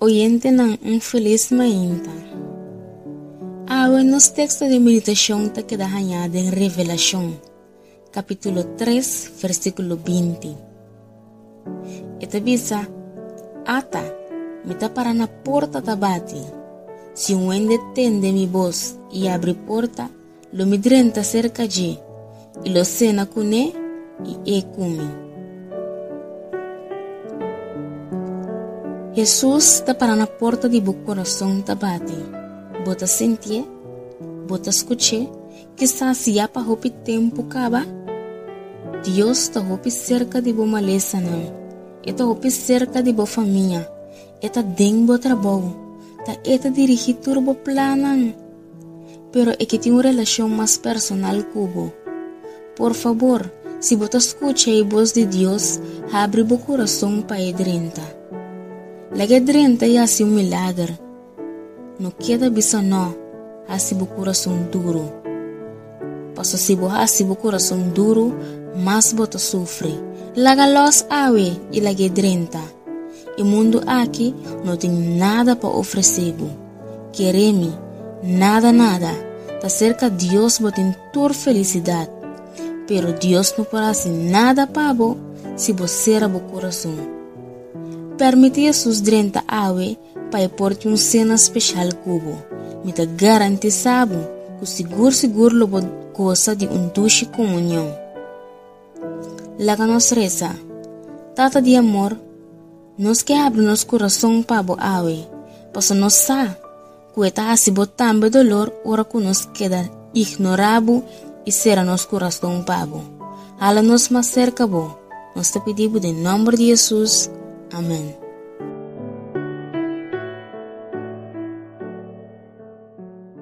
Oyentenan un felis mainta. Awe nos teksto di meditashon ta keda hañá den Revelashon, kapítulo 3, versíkulo 20. E ta bisa, Ata, mi ta para na porta ta bati. Si un wende tende mi bos i abri porta, Lo mi drenta serka dje, i lo sena kuné, i e kumi. Hesus ta para na porta di bo korason ta bati. Bo ta sintié? Bo ta skuch'é? Kisas ya pa hopi tempu kaba? Dios ta hopi serka di bo malesanan. E ta hopi serka di bo famia. E ta den bo trabou. Ta e ta dirigí tur bo plannan. pero e ke tin un relashon mas personal ku bo. Por fabor, si bo ta skucha e bos di Dios, habri bo kurason pa e drenta. Laga e drenta i hasi un milager. No keda bisa nò, hasi bo kurason duru. Paso si bo hasi bo kurason duru, mas bo ta sufri. Laga lòs awe i laga e drenta. E mundu aki no tin nada pa ofresé bo. Keremi, nada nada, ta serka Dios bo tin tur felisidat. Pero Dios no por hasi nada pa bo si bo sera bo kurason. Permiti Hesus drenta awe pa e por tin un sena speshal ku bo. Mi ta garantisá bo ku sigur sigur lo bo gosa di un dushi komunion. Laga nos resa, Tata di amor. Nos ke abri nos kurason pa bo awe, paso nos sa ku e ta hasi bo tambe dolor ora ku nos keda ignorá bo i sera nos kurason pa bo. Hala nos mas serka bo, nos ta pidi bo den nòmber di Hesus, amèn.